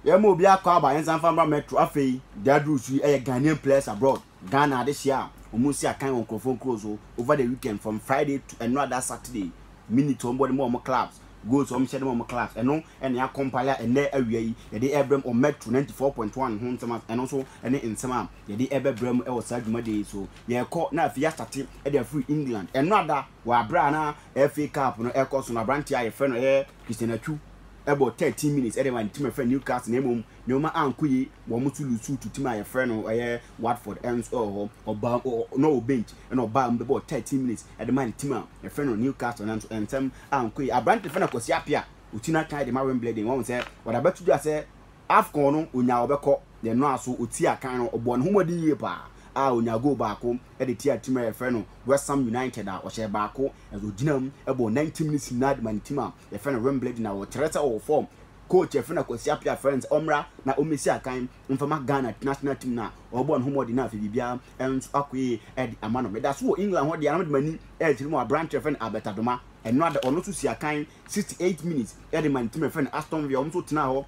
yɛma obi akɔ aba yɛn nsa nfa mra metro afei deɛ aduru so yi ɛyɛ ghanaian players abroad ghana adehyɛ a wɔn si akan wɔn nkurɔfoɔ nkuro so over the weekend from friday to ɛno ada saturday minute wɔn bɔ de ma wɔn clubs goals wɔn hyɛ de ma wɔn clubs ɛno ɛna yɛ akɔmpale a ɛnɛ awia yi yɛde ɛbrɛ mu metro ninety four point one ho nsɛm ɛno nso ɛne nsɛm a yɛde ɛbɛbrɛ mu ɛwɔ saa dwumadie yi so yɛkɔ na afei yɛasate ɛde afiri england ɛno ada. wɔ aberɛ a na FA Cup no ɛrekɔ so no, aberanteɛ a yɛfrɛ no ɛyɛ Christian Atsu bɔ 13 minutes de ma ne team a yɛfrɛ no Newcastle na mmom nneɛma ankɔ yie, wɔn nso lusu to team a yɛfrɛ no ɛyɛ Watford nso wɔ hɔ, ɔbaa ɔ na ɔwɔ bench na ɔbaa mu bɛbɔɔ 13 minutes de ma ne team a yɛfrɛ no Newcastle nanso nsɛm ankɔ yie. Aberante fɛ no Kwasi Appiah, ɔti n'akan de ma Wimbledon, wahu sɛ ɔde abɛto dwa sɛ Afcon no ɔnyaa ɔbɛkɔ, yɛn nnɔaso, ɔtii akan no, ɔbɔɔ ne ho mmɔden yie paa a ɔnyaa goal baako. de tiaa tim a yɛfrɛ no West Ham United a ɔhyɛɛ baako na ogyinaa mu bɔɔ 90 minutes nyinaa de maa ne tim a yɛfrɛ no Wimbledon a wɔkyerɛ sɛ ɔwɔ fɔɔm. Coach Afena Kwasi Appiah frɛɛ no sɛ ɔmmra na ommesi akan mfa ma Ghana national team no a ɔrebɔ ne ho mmɔden na afei biribiara nso akɔ yiye de ama no. Meda so wɔ England hɔ deɛ a na mede m'ani rekyerɛ mu wɔ aberante a yɛfrɛ no Albert Adomah. Ɛno ara da ɔno nso sii akan 68 minutes de maa ne tim a yɛfrɛ no Aston Villa, wɔn nso tenaa hɔ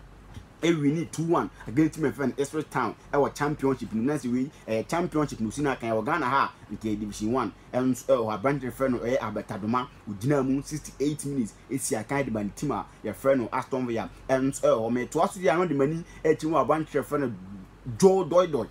ɛwini two one against team ɛfɛ no Ipswich Town ɛwɔ championship no nansi wei ɛyɛ championship no si na kan ɛwɔ Ghana ha nka division one ɛnso ɛwɔ aberante ɛfɛ no ɛyɛ Abɛtadoma ogyina mu sixty eight minutes esi akan de ma ne team a yɛfrɛ no Aston Villa ɛnso ɛwɔ mɛ toa so yɛ ano de ma ni ɛkyi mu aberante ɛfɛ no Joe Doidoi.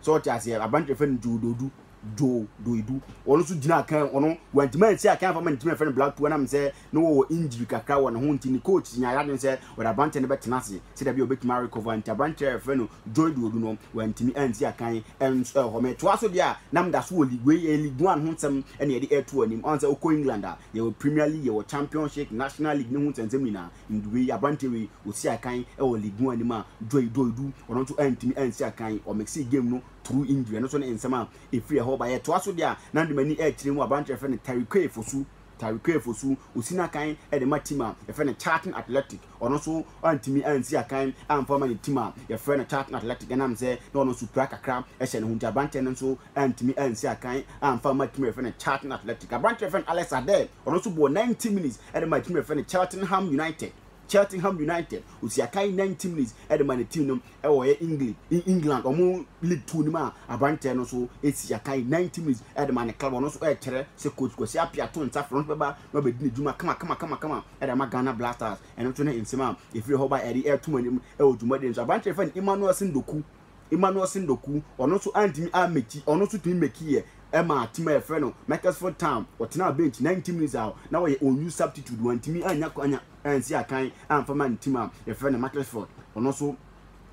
So ɔte aseɛ? Aberanteɛ fɛ no Joe Dodu, Joe Doidu. Ɔno nso gyinaa kan, ɔno wantumi ansi akan afa ma ne team a yɛfrɛ no Black Two ɛnam sɛ na wɔwɔ injury kakra wɔ ne ho nti ne coach nyaa yɛadwene sɛ wɔde aberanteɛ no bɛtena ase sɛ dabi a ɔbɛtumi arecover nti aberanteɛ a yɛfrɛ no Joe Dodu no wantumi ansi akan ɛnso ɛwɔ hɔ. Metoa so deɛ a na meda so wɔ league wei ɛyɛ league one ho nsɛm ɛne yɛde ɛreto anim. Ɔn sɛ wokɔ England a yɛwɔ Premier League, yɛwɔ Championship, National League ne ho nsɛnsɛm nyinaa. Nduwe yi, aberanteɛ wei ɔsii akan wɔ league mu anim a Joy Doe du, ɔno nso antumi ansi akan, ɔ mixee game no through injury, ɛno nso ne nsɛm a ɛfiri ɛhɔ ba. Yɛtoa so deɛ a, na mede m'ani rekyerɛ mu aberanteɛ a yɛfrɛ no Tariquet Fosu, Tariquet Fosu, ɔsi n'akan de ma team a yɛfrɛ no Charlton Athletic, ɔno nso antumi ansi akan amfa ma ne team a yɛfrɛ no Charlton Athletic, ɛnam sɛ na ɔno nso pira kakra hyɛ ne ho nti, aberanteɛ no nso antumi ansi akan amfa mma team a yɛfrɛ no Charlton Athletic. Aberanteɛ a yɛfrɛ no Alex Adair, ɔno nso bɔɔ ninety minutes ɛde ma team yɛfrɛ no Cheltenham United Cheltenham United osi akan 90 minutes ɛde ma ne team no ɛwɔ yɛ England England ɔmo league two no mu a aberantɛ no so esi akan 90 minutes ɛde ma ne club ɔno nso ɛkyerɛ sɛ coach Kwasi Appiah to nsa frɛ ɔno bɛba na ɔbɛdi ne dwuma kama kama kama kama ɛde ama Ghana Blasters ɛno nso ne nsɛm a efiri hɔ ba ɛde ɛto mu anim ɛwɔ dwumadie nso aberantɛ yɛfrɛ no Emmanuel Sendoku Emmanuel Sendoku, ɔno nso antumi ammɛkyi, ɔno nso tumi mmɛkyiiɛ maa team a yɛfrɛ no Macclesfield Town, ɔtenaa bench 90 minutes a na ɔyɛ unused substitute, wantumi annya kwanya ansi akan amfa mma ne team a yɛfrɛ no Macclesfield, ɔno nso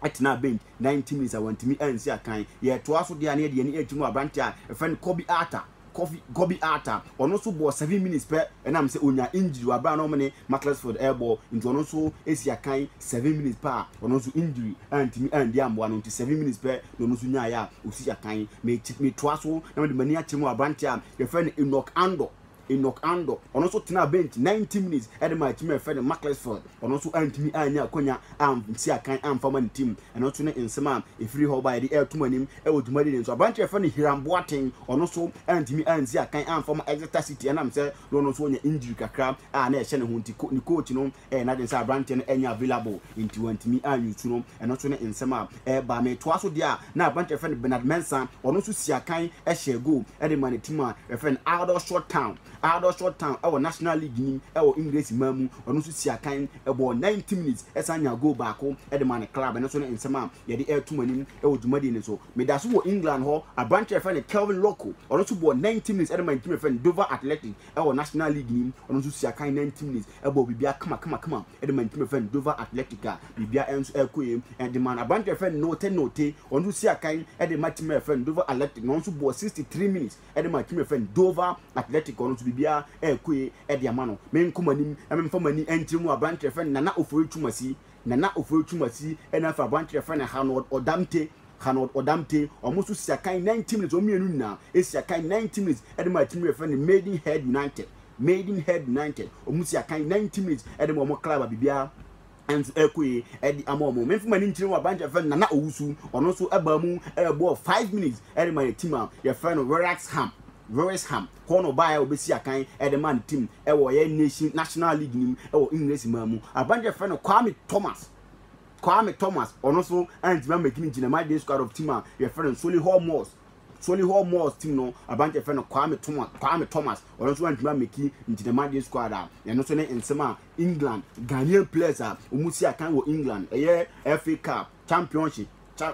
tenaa bench 90 minutes a wantumi ansi akan. Yɛtoa so deɛ a na yɛde yɛn ani akyerɛ mu aberanteɛ a yɛfrɛ no Kobbie Arthur. Kofi Kobiarta, ɔno nso bɔɔ seven minutes pɛ, ɛnam sɛ ɔnya injury wɔ abere a na wɔne Macclesfield ɛrebɔ, nti ɔno nso ɛsi akan seven minutes pɛ a ɔno nso injury antumi andi ammoa no nti seven minutes pɛ na ɔno nso nyaeɛ a ɔsi akan. Meti metoa so na mede m'ani akyerɛ mu wɔ aberanteɛ a yɛfrɛ no Enock Andor, Enock Andor, ɔno nso tenaa bench ninety minutes ɛde maa team a yɛfrɛ no Macclesfield. Ɔno nso antumi annya akwannya ansi akan amfa ma ne tirim. Ɛno nso ne nsɛm a ɛfiri hɔ baeɛ de reto mo anim wɔ dwumadie no nso. Aberanteɛ a wɔfrɛ no Hiram Boateng, ɔno nso antumi ansi akan amfa ma Exeter City ɛnam sɛ na ɔno nso ɔnya injury kakra a na ɛhyɛ ne ho nti. Ne coach no ɛyɛ n'adwene sɛ aberanteɛ no ɛnyɛ available nti wantumi an use no. Ɛno nso ne nsɛm a ɛreba. Metoa so deɛ a, na aberanteɛ a wɔfrɛ no Bernard Mensah, ɔno nso sii akan hyɛɛ goal de maa ne team a wɔfrɛ no Aldershot Town. Aldershot Town wɔ National League no mu wɔ Engiresi man mu, ɔno nso sii akan bɔɔ 90 minutes san nyaa goal baako de maa ne club, ɛno nso ne nsɛm a yɛde reto mo anim wɔ dwumadie no so. Meda so wɔ England hɔ, aberanteɛ a yɛfrɛ no Kelvin Locko, ɔno nso bɔɔ 90 minutes de maa ne team a yɛfrɛ no Dover Athletic wɔ National League no mu, ɔno nso sii akan 90 minutes bɔɔ biribiara kama kama kama de maa ne team a yɛfrɛ no Dover Athletic a biribiara nso rekɔ yie de maa no. Aberanteɛ a yɛfrɛ no Norte Norte, ɔno nso sii akan de maa team a yɛfrɛ no Dover Athletic na ɔno nso bɔɔ 63 minutes ɛde ma team a yɛfrɛ no Dover Atletico no nso biribiara ɛɛkue ɛde ama no me nkɔ m'anim na memfa m'ani ɛnkyerɛ mu aberanteɛ a yɛfrɛ no Nana Ofori Twumasi Nana Ofori Twumasi ɛna afei aberanteɛ a yɛfrɛ no Hanold Odamte Hanold Odamte wɔn nso si akan ninety minutes wɔn mmienu nyinaa ɛsi akan ninety minutes ɛde ma team a yɛfrɛ no Maidenhead United Maidenhead United wɔn si akan ninety minutes ɛde ma wɔn club a biribiara Nso ɛkɔe, ɛde ama wɔn. Memfa m'ani nkyerɛ mu a, branch a yɛfrɛ no Nana Owusu, ɔno nso baa mu bɔɔ five minutes de maa yɛn team a yɛfrɛ no Wrexham, Wrexham, hɔ na ɔbaeɛ a ɔbɛsi akan de maa ne team wɔ yɛn nation national league no mu wɔ English man mu. Aberanteɛ a yɛfrɛ no Kwame Thomas, Kwame Thomas, ɔno nso antumi ammɛki ne nti na my day squad of team a yɛfrɛ no Solihull Moors, Solihull Moors team no aberanteɛ a yɛfrɛ no Kwame Thomas, Kwame Thomas, ɔno nso antumi ammɛki nti na my day squad a ɛno nso ne nsɛm a England Ghanaian players a wɔsi akan wɔ England ɛyɛ FA Cup, Championship,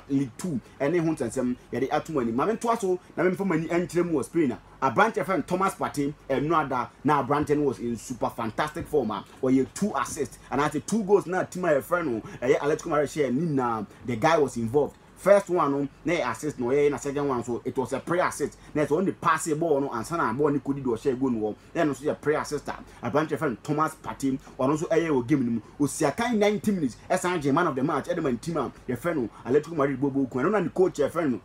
League Two ɛne ho nsɛnsɛm yɛde ato mo anim. Maame ntoa so na memfa m'ani nkyerɛ mu wɔ Spain a aberante a fɛn Thomas Partey ɛno ada na aberante no was in super fantastic form a ɔyɛ two assists anaasɛ two goals na team a yɛfrɛ no ɛyɛ Atletico Madrid hyɛ ne nyinaa the guy was involved First one no na yɛ assist na ɔyɛ yɛ na second one so it was a prayer assist na ɛsɛ ɔne pass bɔɔl no ansa na bɔɔl no kɔdi deɛ ɔhyɛ goal no hɔ na ɛno nso yɛ prayer assist a aberanteɛ yɛfrɛ no Thomas Partey ɔno nso ɛyɛ wɔ game no mu ɔsi akan 90 minutes ɛsan gyee man of the match ɛde ma ne team a yɛfrɛ no Atletico Madrid bɔbɔɔ kun ɛno na ne coach yɛfrɛ no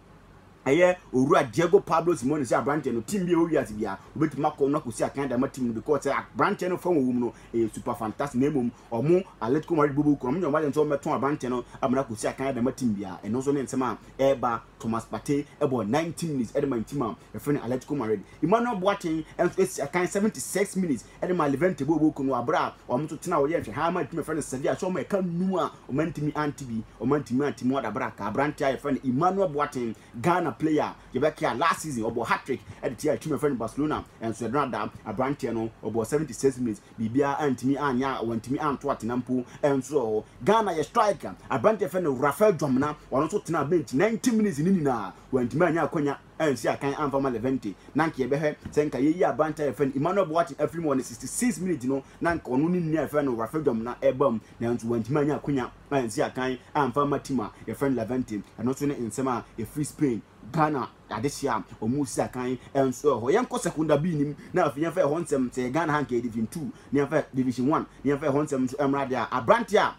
ɛyɛ owura Diego Pablo Simeone sɛ aberanteɛ no team bi a ɛwɔ wiase biara wobɛtumi akɔ no akɔsi akan de ama team no because sɛ aberanteɛ no fa wɔwɔ mu no ɛyɛ super fantastic na mmom Wɔn alert kɔm alert bobo kɔm nyɛ wɔn agent sɛ wɔmmɛtɔn aberante no amena kɔsi akan ɛde ama team biara. Ɛno nso ne nsɛm a ɛreba Thomas Partey bɔɔ 90 minutes ɛde maa team a yɛfrɛ no Atletico Madrid. Emmanuel Boateng nso asi akan 76 minutes ɛde maa Levante bobo kɔm no wɔ berɛ a wɔn nso tena hɔ yɛ nhwɛhaa maa team a yɛfrɛ no Sevilla sɛ wɔn ɛka nnum a wɔantumi ante bi, wɔantumi ante mu adaberaka aberante a yɛfrɛ no Emmanuel Boateng. Ghana player a yɛbɛkae a last season ɔbɔɔ hat-trick de tiaa team a yɛfrɛ no Barcelona nso yɛde no ada. Aberanteɛ no ɔbɔɔ 76 minutes, biribiara antumi anyɛ a wantumi anto atena mpo nso wɔ hɔ. Ghana yɛ striker aberanteɛ a yɛfrɛ no Raphael Dwamena, ɔno nso tenaa bench 90 minutes no nyinaa, wantumi anyɛ akwanya ansi akan amfa ma Levante. Na anka yɛbɛhwɛ sɛ anka yɛyi aberanteɛ a yɛfrɛ no Emmanuel Boateng afiri mu wɔ ne 66 minutes no na anka ɔno ne nua a yɛfrɛ no Raphael Dwamena reba mu, nanso wantumi anyɛ akwanya. ansi akan amfa amma team a yɛfrɛ no Levante, ɛno nso ne nsɛm a ɛfiri Spain, Ghana adehyeɛ a wɔresi akan nso wɔ hɔ. Yɛnkɔ Secunda B no mu na afei yɛmfa ɛhɔ nsɛm, sɛ ɛyɛ Ghana ha nka ɛyɛ Division Two, na yɛmfa Division One na yɛmfa ɛhɔ nsɛm nso mmra deɛ a, aberanteɛ a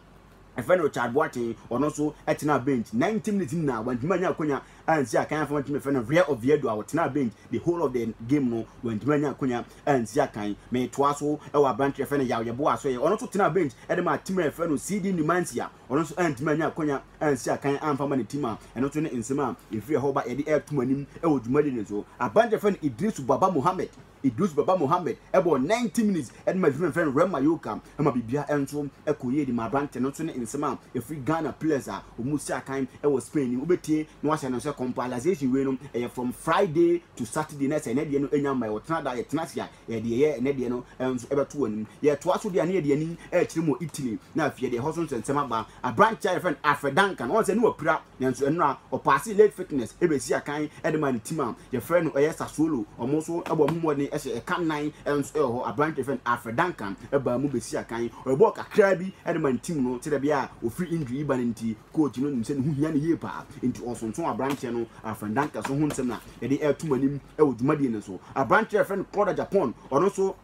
yɛfrɛ no Richard Boateng, ɔno nso tenaa bench ninety minutes nyinaa, wantumi anya akonnwa ansi akan amfa ama team a yɛfrɛ no Real Oviedo a ɔtenaa bench the whole of the game no, wantumi anya akonnwa ansi akan. Metoaa so wɔ aberante a yɛfrɛ no Yaw Yeboah so ɛ. Ɔno nso tenaa bench de maa team a yɛfrɛ no CD Numancia. Ɔno nso antumi anya akwanya ansi akan amfa ama ne team a ɛno nso ne nsɛm a ɛfiri ɛhɔ ba yɛde reto mo anim wɔ dwumadi no so. Aberante a yɛfrɛ no Idrisu Baba Mohammed Idrisu Baba Mohammed bɔɔ 90 minutes de maa team a yɛfrɛ no Rem Mayoka ma biribiara nso kɔɔ yie de maa aberante no nso ne nsɛm a ɛfiri Ghana players a wɔsi akan wɔ Spain no. Wobɛtie na woahyɛ no nso kɔmpɔ. Alazation wei no ɛyɛ from Friday to Saturday na sɛ ɛnɛ deɛ no ɛnya mma ɔtena da yɛtena ase a yɛde yɛyɛ ɛnɛ deɛ no nso ɛbɛto anim yɛtoa so deɛ ne yɛde ani ɛkyerɛ mu Italy na afei deɛ ɛhɔ so nsɛnsɛm aba aberanteɛ a yɛfrɛ no Alfred Duncan ɔn sɛ ne wapira nanso ɛnora ɔpaase late fitness ɛbɛsi akan ɛde ma ne tim a yɛfrɛ no ɛyɛ Sassuolo ɔmo nso ɛbɔ ɔmo mmɔden ɛhyɛ ɛka nan ɛnso ɛwɔ hɔ aberanteɛ fɛ no Alfred Duncan ɛbaa mu bɛsi akan ɔbɔɔ kakraa bi ɛde ma ne tim no sɛdeɛ bia ofiri injury yi ba no nti Coach no nim sɛ ne ho hia no yie paa, enti ɔsonso aberanteɛ no Alfred Dankers ho nsɛm na yɛde reto mo anim wɔ dwumadie no so. Aberanteɛ a yɛfrɛ no Claude Agyapong, ɔno nso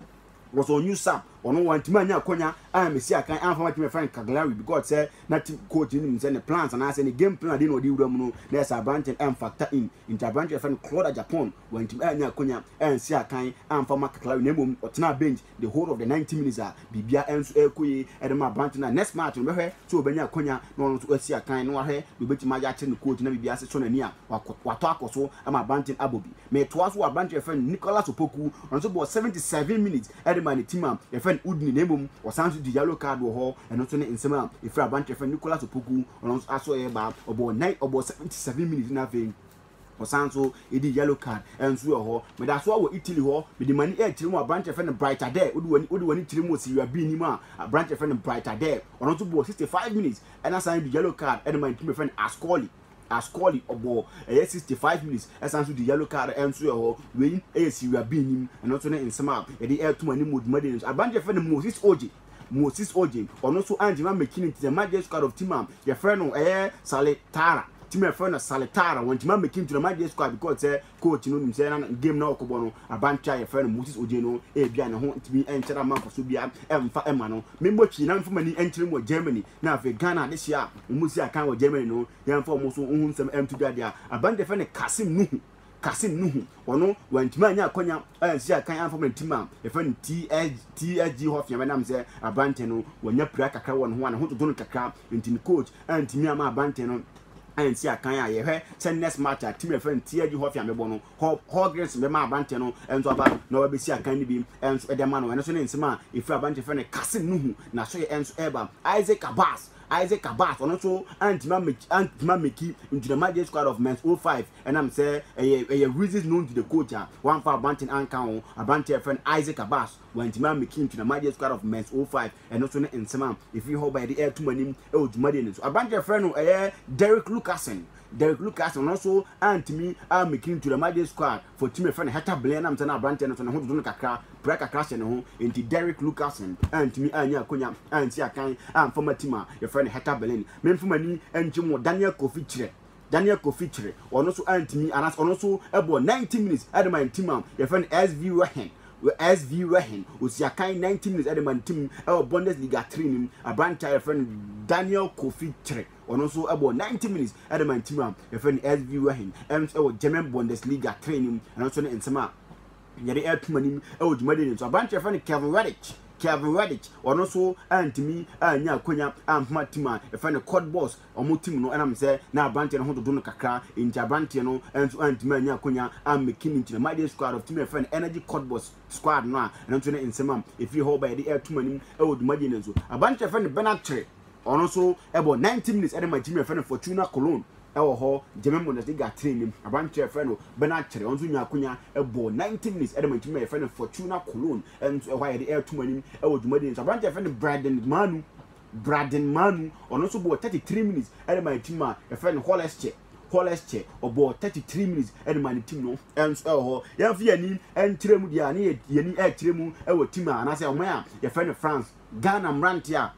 was on new sub, ɔno wantumi anya akwanya ammɛsi akan amfa ma team a yɛfrɛ no Cagliari because sɛ na team coach no nim sɛ ne plans anaasɛ ne game plan ade na ɔde wura mu no, na ɛsɛ aberanteɛ no ɛmfactor in. Enti aberanteɛ a yɛfrɛ no Claude Agyapong wantumi anya akwanya ansi akan amfa ma Cagliari na mmom ɔtenaa bench the whole of the ninety minutes a biribiara nso rekɔ yie de ma aberante no a, next match no bɛhwɛ sɛ ɔbɛnya akwanya na ɔno nso asi akan na wahwɛ deɛ ɔbɛtumi ayɛ akyerɛ ne coach na biribiara ase sɔ n'ani a, wakɔ, watɔ akɔ so ama aberante no abɔ bi. Metoa so wɔ aberante a yɛfrɛ no Nicholas Opoku, ɔno nso bɔɔ seventy seven minutes de maa ne team a yɛfrɛ no Udine na mmom ɔsan nso gye yellow card wɔ hɔ, ɛno nso ne nsɛm a ɛfiri aberante a yɛfrɛ no Nicholas Opoku, ɔno nso aso reba, ɔbɔɔ nine, ɔbɔɔ seventy seven minutes na afei. Ɔsan nso di yellow card nso wɔ hɔ. Meda so ara wɔ Italy hɔ, mede m'ani rekyerɛ mu wɔ aberante a yɛfrɛ no Bright Adair. Wode w'ani wode w'ani kyerɛ mu wɔ Serie A B no mu a, aberante a yɛfrɛ no Bright Adair, ɔno nso bɔɔ 65 minutes ɛna san di yellow card ɛde maa ne team a yɛfrɛ no Ascoli. Ascoli ɔbɔɔ ɛyɛ 65 minutes ɛsan nso di yellow card nso wɔ hɔ. Wei yɛ Serie A B no mu, ɛno nso ne nsɛm a yɛde reto mo anim wɔ dwumadi no so. Aberante a yɛfrɛ no Moses Oji, Moses Ojin, ɔno nso angyina ammɛkyini nti sɛ Magistrate of Timam yɛfrɛ no ɛyɛ Sale Tara, Timam yɛfrɛ no Sale Tara, wangyina ammɛkyini nti na Magistrate because sɛ coach no nim sɛ na game no a ɔkɔbɔ no abante a yɛfrɛ no Moses Ojin no ebia ne ho ntumi nkyɛre amma mfaso biara mfa mma no. Memmɔ twi na memfa m'ani nkyerɛ mu wɔ Germany na afei Ghana adehyeɛ a wɔsi akan wɔ Germany no yɛmfa wɔn nso ho nsɛm nto dwa deɛ a, Abante yɛfrɛ no Kasim Nuhu. Kasim Nuhu, ɔno wantumi anya akwanya ansi akan amfa ma tim a yɛfrɛ no TS, TSG hɔ fea bɛnam sɛ aberanteɛ no wanya pira kakra wɔ ne ho a ne ho dwodwo no kakra nti ne coach antumi ama aberanteɛ no ansi akan a yɛhwɛ sɛ next match a tim a yɛfrɛ no TSG hɔ fea bɛbɔ no hɔ Hawkins bɛma aberanteɛ no nso aba na wabɛsi akan no bi nso de ama no ɛno nso ne nsɛm a ɛfiri aberanteɛ fɛ no Kasim Nuhu na so yɛ nso ɛba Isaac Abbas Isaac Abbas ɔno nso antumi ameki antumi ameki Ntunama J Squad of Men's 05 Ɛnam sɛ ɛyɛ ɛyɛ Reasons Known to the Coach a wamfa Abanten anka ho aberante a wɔfrɛ no Isaac Abbas, wantumi ammeki nto na Majee's Squad of Men's 05 ɛno nso ne nsɛm a ɛfiri hɔ baeɛ de reto mo anim wɔ dwumadie no so. Aberante a wɔfrɛ no ɛyɛ Derrick Lucasen, Derrick Lucasen, ɔno nso antumi ammeki nto na Majee's Squad for team a wɔfrɛ no Heta Blen ɛnam sɛ na aberanteɛ no nso ne ho dodo no kakra, brɛ kakra hyɛ ne ho, enti Derrick Lucasen antumi annya akwannya ansi akan amfa ma team a wɔfrɛ no Heta Blen. Memfa m'ani nkyem wɔ Daniel Kofi Kyerɛ. Daniel Kofi Kyereh, ɔno nso antumi anaasɛ ɔno nso bɔɔ 90 minutes de ma ne team a yɛfrɛ no SV Röhen SV Röhen osiakan 90 minutes de ma ne team wɔ Bundesliga 3 no mu aberante a yɛfrɛ no Daniel Kofi Kyereh ɔno nso bɔɔ 90 minutes de ma ne team a yɛfrɛ no SV Röhen ɛno nso wɔ German Bundesliga 3 no mu ɛno nso ne nsɛm a yɛde ɛretom anim wɔ dwumadie no nso aberante yɛfrɛ no Kevin Reddick Kevin Reddick ɔno nso antumi anya akonya ampema team a yɛfrɛ no Cottbus Wɔtim no nam sɛ na aberanteɛ no ho dodo no kakra nti aberanteɛ no nso antumi anya akwanya ammɛki no nti na Mayday Squad of tumi frɛ no Energy Codeboss Squad no a ɛno nso ne nsɛm a ɛfiri hɔ ba yɛde ɛretom anim wɔ dwumadie no nso. Aberanteɛ a yɛfrɛ no Bernard Kyere ɔno nso bɔ 90 minutes de ma gyimi a yɛfrɛ no Fortuna Cologne wɔ hɔ Gyame Bundesliga tire nim. Aberanteɛ a yɛfrɛ no Bernard Kyere ɔno nso nyaa akwanya bɔɔ 90 minutes de ma gyimi a yɛfrɛ no Fortuna Cologne nso ɛhɔ a yɛde ɛretom anim wɔ dwumadie no nso. Aberanteɛ a yɛfrɛ no Bryden Manu Braden Manu, ɔno nso bɔɔ thirty three minutes ɛde maa ne team a yɛfrɛ no Holesche, Holesche, ɔbɔɔ thirty three minutes ɛde maa ne team no nso ɛwɔ hɔ. Yɛmfa yɛn ani nkyerɛ mu deɛ a ne yɛn ani ɛrekyerɛ mu ɛwɔ team a anaasɛ ɔman a yɛfrɛ no France. Ghana mmeranteɛ a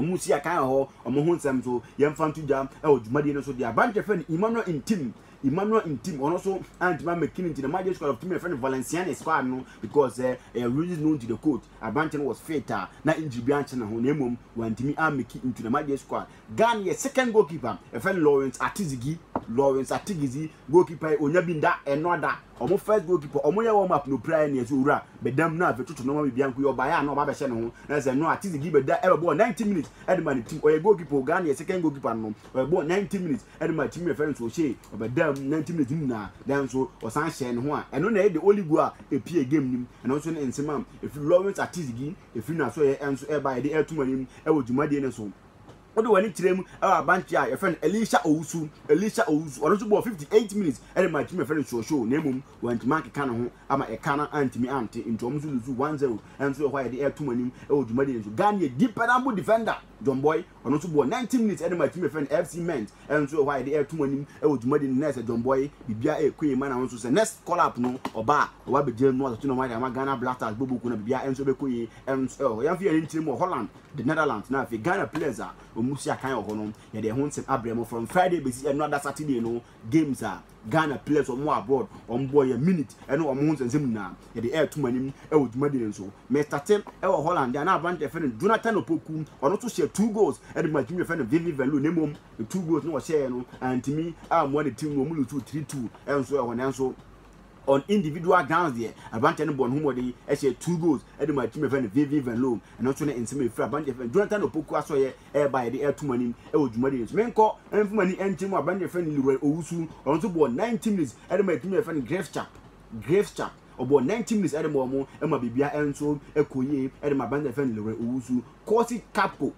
wɔn si akan wɔ hɔ, wɔn ho nsɛm nso yɛmfa nto dwa ɛwɔ dwumadie no so deɛ a. Aberanteɛ yɛfrɛ no Emmanuel Ntim, Emmanuel Ntim, ɔno nso antumi ammɛki ne nti na Magic Squad of team a yɛfrɛ no Valenciennes squad no because ɛyɛ regions known to the coach. Aberantsɛ no was fit a na injury biara nnkyɛ noho na mbom ɔanntumi ammeki into dɛm adeɛ squad. Ghana yɛ second goalkeeper a yɛfrɛ no Lawrence Atizigi, Lawrence Atigidzi, goalkeeper yi onnya bi nnda, ɔnnɔ da. Wɔn first goalkeeper, wɔyɛɛ warm up na opirae na yɛdze Owura bɛda mu na afei toto nnoɔma biribiara nko yi ɔbaeɛ a na ɔba abɛhyɛ noho na kyerɛ sɛ no Atizigi bɛda bɛbɔɔ 90 minutes de maa ne team. Ɔyɛ goalkeeper o, Ghana yɛ second goalkeeper no no, ɔbɔɔ 90 minutes. Ɛno maa timi no fɛre nso hyee ɔbɛdaa mu nantim ne timi nyinaa. Nanso ɔsan hyɛɛ ne ho a ɛno na ɛyɛ de oligo a epie gam nim. Ɛno nso ne nsem a efiri Lawrence Atizigi efiri n'asoɛeɛ ɛnso ɛɛba yɛde ɛɛto mo anim ɛwɔ dwumadie no so. Wode w'ani kyerɛ mu ɛwɔ abanteɛ a yɛfrɛ no Elisha Owusu, Elisha Owusu, ɔno nso bɔɔ fifty eight minutes ɛde maa timi a yɛfrɛ no Soshoo na mmom wantumi ankeka ne ho ama ɛka no antumi ante nti wɔn nso loose one zero. Ɛnso yɛ hɔ a yɛde ɛɛto mo anim ɛwɔ dwumadie no so. Ghanea deep pɛnanbo defender John Boy. Ɔno nso bɔɔ ninety minutes de maa team a yɛfrɛ no FC Ment. Ɛno nso yɛ hɔ a yɛde ɛreto mo anim wɔ dwumadi no. Nurse Adwambɔe, biribiara ɛyɛ kwe ma na wo nso sɛ next call up no ɔba a, ɔba abɛgyina mu atoto ne ho ayɛ ama Ghana Black Stars bɔbɔ kuo no a biribiara nso ɛbɛkɔ yie. Ɛno nso ɛwɔ hɔ. Yɛmfa yɛn ani nkyerɛ mu wɔ Holland, The Netherlands na afei Ghana players a wɔsi akan wɔ hɔ no, yɛde ɛho nsɛm abrɛ mo from Friday bɛsi ɛnnora da Saturday no. games a Ghana players a wɔwɔ abroad wɔn bɔ yɛ minute ɛne wɔn ho nsɛnsɛm nyinaa yɛde ɛreto mo anim ɛwɔ dwumadie no nso. Mestate ɛwɔ Holland a na aberanteɛ yɛfrɛ no Jonathan Opoku ɔno nso hyɛ two goals ɛde ma team yɛfrɛ no Vevey Venlo na mmom two goals na ɔhyɛɛ no antumi ammoa ne team no wɔn lusu three two ɛnso ɛwɔ hɔ nanso On individual grounds deɛ, aberanteɛ no bɔɔ ne ho mmɔden hyɛɛ two goals de maa team a yɛfrɛ no Vevey Venlon. Ɛno nso ne nsɛm a ɛfiri aberanteɛ a yɛfrɛ no Jonathan Opoku Asɔyɛ reba a yɛde reto mo anim wɔ dwumadi no so. Menkɔ mfa m'ani nkyerɛ mu a, aberanteɛ a yɛfrɛ no Leroy Owusu, ɔno nso bɔɔ ninety minutes de maa team a yɛfrɛ no Grefschap, Grefschap. Ɔbɔɔ ninety minutes de maa wɔn ma biribiara nso kɔɔ yie de maa aberanteɛ a yɛfrɛ no Leroy Owusu. Corsi Capco,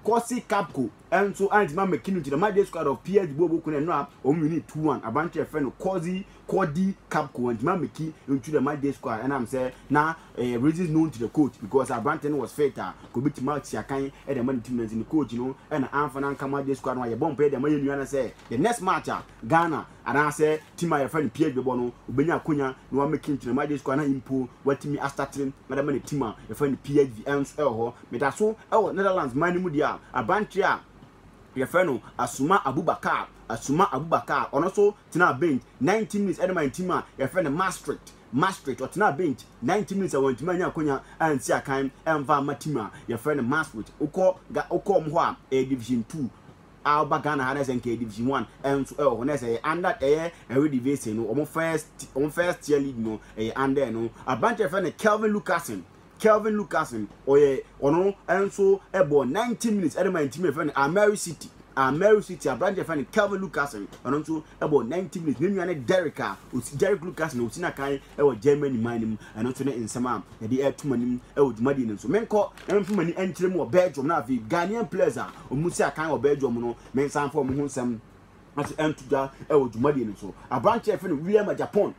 Corsi Capco. nso antumi ammɛki no nti na ɔmaa Jesu Squad of PSG bɔɔ wɔn kun ɛno a wɔn winii 2-1 aberante a yɛfrɛ no Cozy Cody Gakpo antumi ammɛki nti na maa Jesu Squad ɛnam sɛ na ɛyɛ reasons known to the coach because aberante no was fit a nka obɛtumi atua kan de ama ne team no nti ne coach no ɛna amfa no anka maa Jesu Squad no a yɛbɔ mpaeɛ de ama yɛn nua no sɛ the next match a Ghana Anaasɛ team a yɛfrɛ no PH bɛbɔ no, obenya akwanya na wɔamake nkyerɛmu agye score anaa mpo wɔatumi astate na de ama ne team a yɛfrɛ no PHV. Ɛno nso wɔ hɔ. Meda so wɔ Netherlands man no mu deɛ a, aberanteɛ a yɛfrɛ no Assouma Aboubakar, Assouma Aboubakar, ɔno nso tenaa bench ninety minutes de maa ne team a yɛfrɛ no Maastricht, Maastricht, ɔtenaa bench ninety minutes a wantumi annya akwanya ansi akan mfa amma team a yɛfrɛ no Maastricht. Wokɔ Ga, wokɔ wɔn hɔ a, ɛyɛ Division Two. a ɔba Ghana ha na ɛsɛ nka division one nso ɛwɔ hɔ na ɛsɛ ɛyɛ under ɛyɛ ɛwɛ division no wɔn first wɔn first tier league no ɛyɛ under no aberanteɛ fɛ no Kelvin Lucasen Kelvin Lucasen ɔyɛ ɔno nso ɛbɔ ninety minutes ɛde ma ntumi ɛfɛ no Ameri City Ameri City aberanteɛ fɛ no Kelvin Lucasen ɔno nso Ɛbɔ ninety minutes, me nua ne Derek a osi Derek Lucas na osi na kan wɔ Germany man no mu. Ɛno nso ne nsɛm a yɛde reto mo anim wɔ dwumadie no nso. Menkɔ na memfa m'ani nkyerɛ mu wɔ Belgium na afei Ghanaian players a wɔn si akan wɔ Belgium no mensan mfa wɔn ho nsɛm ase nto dwa wɔ dwumadie no nso. Aberanteɛ a yɛfrɛ no William Agyapong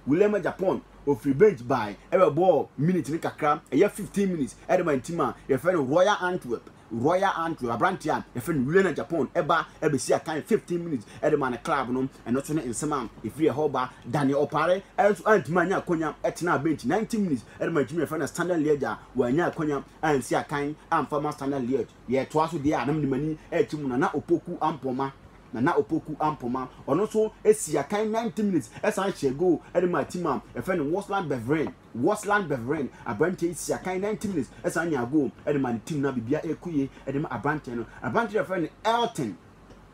William Agyapong ofiri bench bae ɛbɛbɔɔ minute no kakra ɛyɛ fifteen minutes ɛde ma team a yɛfrɛ no Royal Antwerp Royal Andrew, aberanteɛ a yɛfrɛ no Riona Japon ba bɛsi akan 15 minutes de maa ne club no, ɛno nso ne nsɛm a ɛfiri ɛhɔ ba. Danny Opare nso antumi annya akwanya tenaa bench 90 minutes de maa team a yɛfrɛ no Standard Liège a wannya akwanya ansi akan amfa mma Standard Liège. Yɛtoa so deɛ a na mede m'ani rekyɛ mu Nana Opoku Ampoma, Nana Opoku Ampoma, ɔno nso sii akan 90 minutes san hyɛɛ goal de maa team a yɛfrɛ no Waasland Beveren. Wosland Beveren, aberanteɛ yi sia kan 90 minutes ɛsan nyaa goal de maa ne team no a biribiara ɛrekɔ yie de ma aberanteɛ no. Aberanteɛ no yɛfrɛ no Elton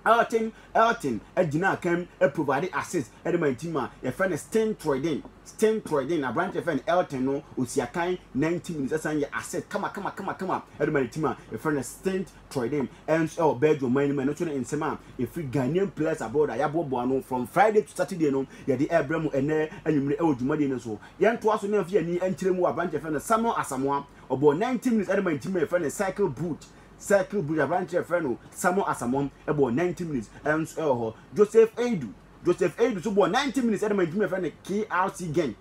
Elton Elton gyinaa kan provide assist de maa ne team a yɛfrɛ no Steen Troiden Steen Troiden. Aberanteɛ yɛfrɛ no Elton no ɔsia kan 90 minutes ɛsan yɛ assist kama kama kama kama de maa ne team a yɛfrɛ no Steen Troydem, Ems ɛwɔ Belgium man no mu. Ɛno nso ne nsɛm a ɛfiri Ghanaian Players Abroad a yɛaboaboa ano from Friday to Saturday no yɛde rebrɛ mo ɛnnɛ anwummere ɛwɔ dwumadie no so. Yɛntoa so na yɛmfa yɛn ani nkyerɛ mu wɔ aberanteɛ yɛfrɛ no Samuel Asamoah. Ɔbɔɔ 90 minutes ɛde maa ne team a yɛfrɛ no Cercle Brugge. Cercle Brugge aberanteɛ a yɛfrɛ no Samuel Asamoah bɔɔ 90 minutes ɛnso ɛwɔ hɔ. Joseph Eidu, Joseph Eidu nso bɔɔ 90 minutes ɛde maa ne team a yɛfrɛ no KRC Genk.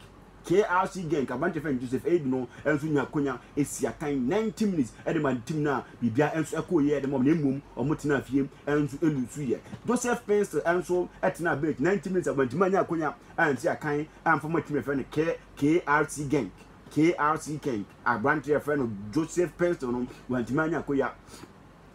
KRC Genk aberanteɛ fɛn Joseph Eid no nso nya akonya si atan 90 minutes de ma ne team no a biribiara nso ɛkɔɔ yie de ma wɔn na mmom wɔn tenaa fie nso ɛlusu yɛ. Joseph Pinster nso tenaa bench 90 minutes a wantumi anya akonya ansi akan amfa ma team a yɛfrɛ no KRC Genk. KRC Genk aberanteɛ yɛfrɛ no Joseph Pinster no wantumi anya akonya.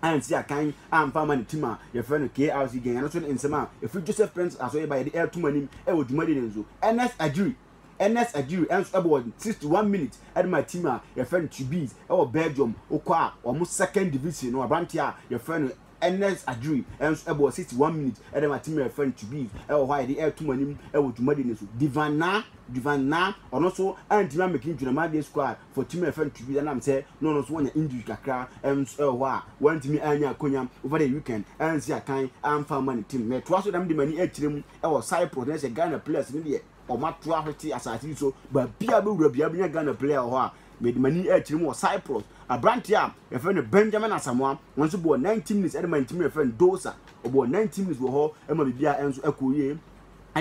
ansi akan amfa ama ne tim a yɛfrɛ no KRC Gen. Ɛno nso ne nsɛm a ɛfiri Joseph Prince aso reba yɛde ɛreto mo anim wɔ dwumadi no nso. Ernest Agyiri Ernest Agyiri nso bɔ 61 minutes de ma tim a yɛfrɛ no Tubize wɔ Belgium wokɔ a wɔn second division no aberanteɛ a yɛfrɛ no Ernest Agyiri nso bɔ 61 minutes de ma tim a yɛfrɛ no Tubize wɔ hɔ a yɛde ɛreto mo anim wɔ dwumadi no nso. Divan Naa Divan Naa ɔno nso antumi ammɛki ne Dwunaman Day Squad For tumi a yɛfrɛ no to be ɛnam sɛ na ɔno nso wanya injury kakra nso ɛwɔ hɔ a wantumi anya akonya over the weekend ansi akan amfa ama ne team. Mɛtoa so na mede m'ani akyerɛ mu ɛwɔ Cyprus na ɛsɛ Ghana players no deɛ wɔn ato ahwete asase yi so baabiara bɛwura biara bɛnya Ghana player wɔ hɔ a mede m'ani akyerɛ mu wɔ Cyprus. Aberanteɛ a yɛfrɛ no Benjamin Asamoah wɔn nso bɔɔ 90 minutes ɛde ma ne team a yɛfrɛ no Dosa ɔbɔɔ 90 minutes wɔ hɔ ɛma biribiara nso ɛkɔɔ yie.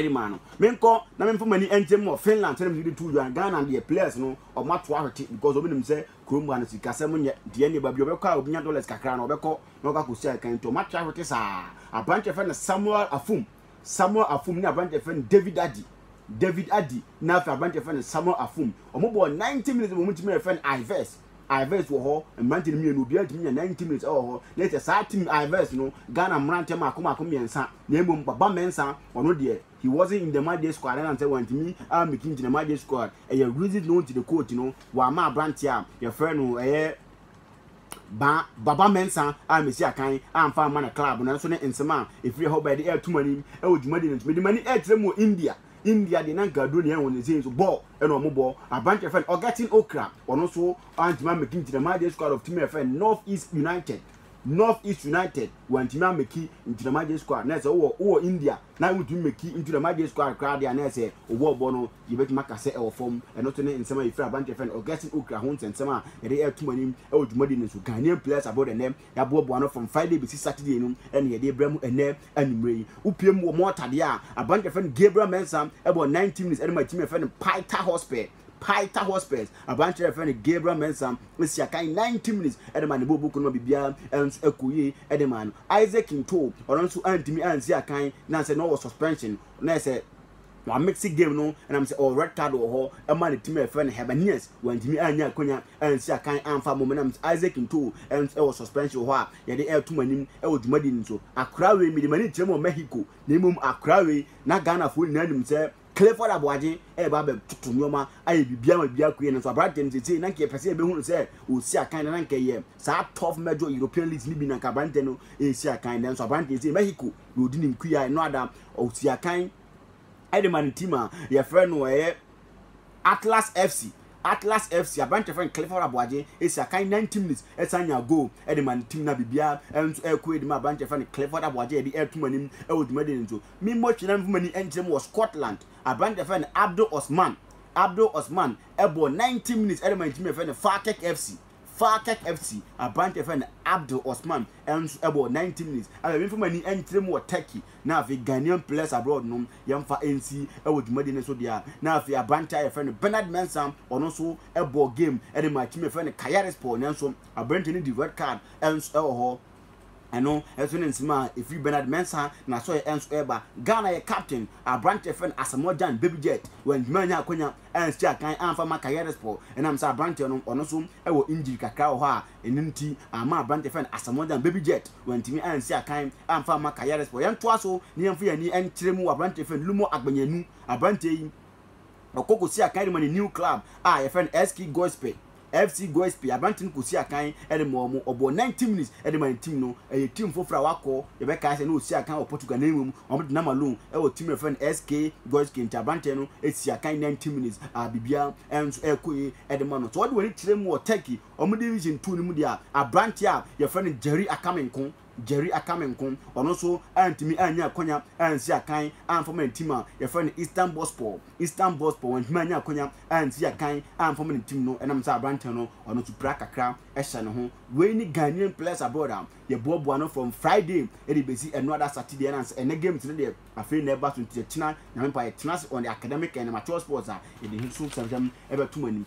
de maa no. Menkɔ na memfa m'ani nkyem wɔ Finland sɛdeɛ metumi de tuu dwan. Ghana deɛ players no wɔn ato ahwete because wɔn nim sɛ kurom ha no sikasɛm nyɛ deɛ ne ba bi ɔbɛkɔ a obinya dollars kakra no ɔbɛkɔ na ɔkɔ akɔsi akan nti wɔn ato ahwete saa. Aberanteɛ fɛ no Samuel Afum Samuel Afum ne aberanteɛ fɛ no David Adi David Adi na afei aberanteɛ fɛ no Samuel Afum wɔn bɔɔ 90 minutes wɔn tumi yɛ fɛ no Ives. Ives wɔ hɔ, mmerante no mmienu, obiara tumi nya ninety minutes wɔ hɔ. Na ɛkyɛ saa team Ives no, Ghana mmerante mmaako mmaako mmiɛnsa, na mmom Baba Mensah, ɔno deɛ, he wasn't in the matchday squad, ɛnam sɛ wantumi ammɛtumi nti na matchday squad, ɛyɛ reasons known to the coach no, wamma aberanteɛ a yɛfrɛ no ɛyɛ Ba, Baba Mensah a mesi akan amfa amma ne club no, ɛnso ne nsɛm a ɛfiri ɛhɔ baeɛ de ɛreto m'anim wɔ dwumadie no nti, mede m'ani ɛrekyerɛ mu wɔ India, India deɛ na nka aduro na ɛyɛ wɔn sɛsei nso bɔɔl. ɛna ɔmo bɔ aberanteɛ fɛn Augustine Okra ɔno nso antumi ameki nti na Maje Squad of tumi ɛfɛn North East United North East United wantumi ameki nti na Maje Squad na ɛsɛ wowɔ wowɔ India na wontumi meki nti na Maje Squad koraa deɛ na ɛsɛ owɔ bɔ no yɛbɛtumi aka sɛ ɛwɔ fam ɛno nso ne nsɛm a yɛfiri aberanteɛ fɛn Augustine Okra ho nsɛnsɛm a yɛde ɛto mo anim ɛwɔ dwumadi no so Ghanaian players abroad ɛnɛ Yɛaboaboa no from Friday besi Saturday no ɛna yɛde rebrɛ mo ɛnɛ anwummere yi. Wopue mu wɔ Malta deɛ a, aberante yɛfrɛ no Gabriel Mensah ɛbɔ 90 minutes ɛde ma team yɛfrɛ no Paita Hotspur. Paita Hotspurs aberante yɛfrɛ no Gabriel Mensah esi akan 90 minutes ɛde ma ne bɔɔl buku no ma biribiara nso ɛkɔ yie ɛde ma no. Isaac Ntoo ɔno nso antumi ansi akan na sɛ na ɔwɔ suspension na ɛsɛ wɔamixi game no ɛnam sɛ ɔwɔ red card wɔ hɔ ɛma ne team a yɛfrɛ no Hibernians wɔantumi anyɛ akwanya ansi akan amfa momenam nti Isaac ntoo ɛnso ɛwɔ suspension wɔ hɔ a yɛde ɛreto mo anim ɛwɔ dwumadi no so. Akora wei mede m'ani nkyerɛ mu wɔ Mexico na mmom akora wei na Ghanafoɔ nyinaa nim sɛ Clifford Aboagye ɛreba abɛtoto nnoɔma ayɛ biribiara ma biribiara akɔ yie nanso aberanteɛ no seesei na nka yɛpɛ sɛ yɛbɛhu no sɛ ɔresi akan na na nka ɛyɛ saa Turf Major European Leagues no bi na nka aberanteɛ no resi akan nanso aberanteɛ yi sei Mexico na ɔdi ne nkuyaa ɛno ada ɔsi akan de ma ne team a yɛfrɛ no ɛyɛ Atlas FC. Atlas FC aberanteɛ fɛn Clifford Aboagye esi akan 90 minutes ɛsan nya goal ɛde ma ne team na biribiara ɛnso ɛkɔ ɛde ma aberanteɛ fɛn Clifford Aboagye ɛde ɛto mu anim ɛwɔ dwumadie no so. Me mmɔ twene na mfuma ni ɛnkyerɛ mu wɔ Scotland aberanteɛ fɛn Abdul Osman Abdul Osman ɛbɔ 90 minutes ɛde ma ne team yɛfrɛ no Falkirk FC. Falkirk FC aberante a wɔfrɛ no Abdul Osman nso bɔɔ 90 minutes. Afei memfa m'ani nkyerɛ mu wɔ Turkey na afei Ghanaian Players Abroad no yɛmfa nsi wɔ dwumadi no so deɛ a na afei aberante a wɔfrɛ no Bernard Mensah ɔno nso bɔɔ game de maa team a wɔfrɛ no Kayserispor nanso aberante no di red card nso wɔ hɔ. Ɛno nso ne nsɛm a ɛfiri Bernard Mensah n'asɔre nso ɛreba. Ghana yɛ captain aberanteɛ a yɛfrɛ no Asamoah Gyan, Baby Jet, wantumi annya akwanya ansi akan amfa ma Kayaderspor ɛnam sɛ aberanteɛ no ɔno nso wɔ injury kakra wɔ hɔ a ɛno nti amma aberanteɛ yɛfrɛ no Asamoah Gyan, Baby Jet, wantumi ansi akan amfa amma Kayaderspor. Yɛntoa so na yɛmfa yɛn ani nkyerɛ mu wɔ aberanteɛ yɛfrɛ no Lumo Agbenyanu, aberanteɛ yi ɔkɔ kɔsi akan de ma ne new club a yɛfrɛ no SK Gospel FC Goespe, aberante no kosii akan de maa wɔn. Ɔbɔɔ 90 minutes de maa ne team no. Ɛyɛ team foforo a wakɔ, yɛbɛkae sɛ na ɔsii akan wɔ Portugal na mmom wɔde nam alone wɔ team no a yɛfrɛ no SK Goespe nti aberante no sii akan 90 minutes a biribiara nso ɛrekɔ yie de ma no. Sɛ wɔde w'ani kyerɛ mu wɔ Turkey wɔn Division Two no mu deɛ a, aberante a yɛfrɛ no Jerry Akame nko Jerry Akame nko, ɔno nso antumi annya akwanya ansi akan amfa ma ne tim a yɛfrɛ no Istanbulspor, Istanbulspor, wantumi annya akwanya ansi akan amfa ma ne tim no, ɛnam sɛ aberanteɛ no, ɔno nso pira kakra hyɛ ne ho. Wei ne Ghanaian players abroad a yɛboaboa no from Friday de bɛsi ɛno ada Saturday, ɛnam sɛ ɛnnɛ games no deɛ afei na ɛreba so nti yɛtena, Nyame mpa, yɛtena ase on the academic and amateur sports a yɛde ho so sɛmsɛm bɛto mo anim.